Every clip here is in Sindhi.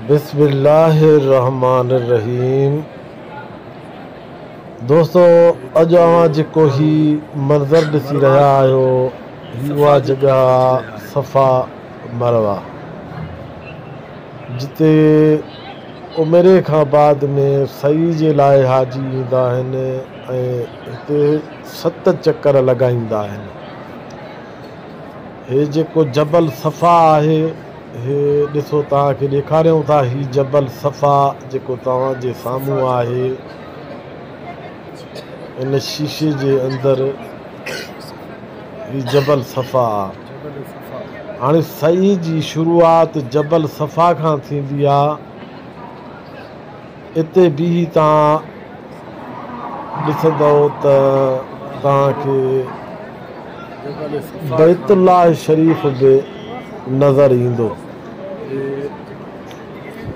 بسم الله الرحمٰن الرحيم دوستو اڄ اوهان جيڪو هي منظر ڏسي رهيا آهيو هي اها جڳهه آهي صفا مروه جتي عمري کان بعد ۾ سعي جي لاء حاجي ايندا آهن ۽ هتي ست چڪر لڳائيندا آهن هي جيڪو جبل صفا آهي، هي ڏسو توهان کي ڏيکاريون ٿا هي جبل صفا جيڪو توهان جي سامهون آهي، ان شيشي جي اندر هي جبل صفا آ. هاڻي سعي جي شروعات جبل صفا کان ٿيندي آ. اتي بيهي توهان ڏسندؤ ته توهان کي بيت الله شريف به نظر ايندو.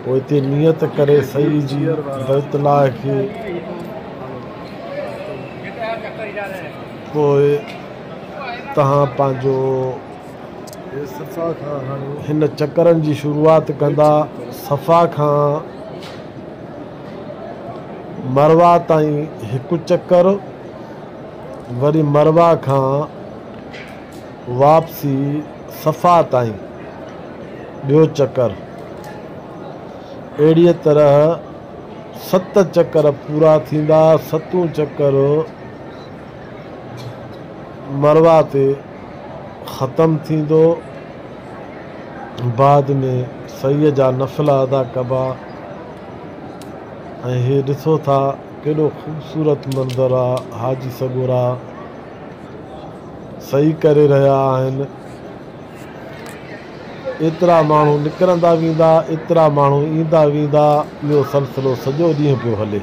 پوء اتي نيت ڪري سعي جي بيت الله کي پوء توهان پنهنجو هن چڪرن جي شروعات ڪندا صفا کان مروه تائين هڪ چڪر وري مروه کان واپسي صفا تائين ٻيو چڪر اهڙي طرح ست چڪر پورا ٿيندا ستون چڪر مروا تي ختم ٿيندو بعد ۾ سعي جا نفلا ادا ڪبا ۽ هي ڏسو ٿا ڪيڏو خوبصورت منظر آ حاجي سڳورا سعي ڪري رهيا آهن ايترا ماڻهو نڪرندا ويندا ايترا ماڻهو ايندا ويندا اهو سلسلو سڄو ڏينهن پيو هلي.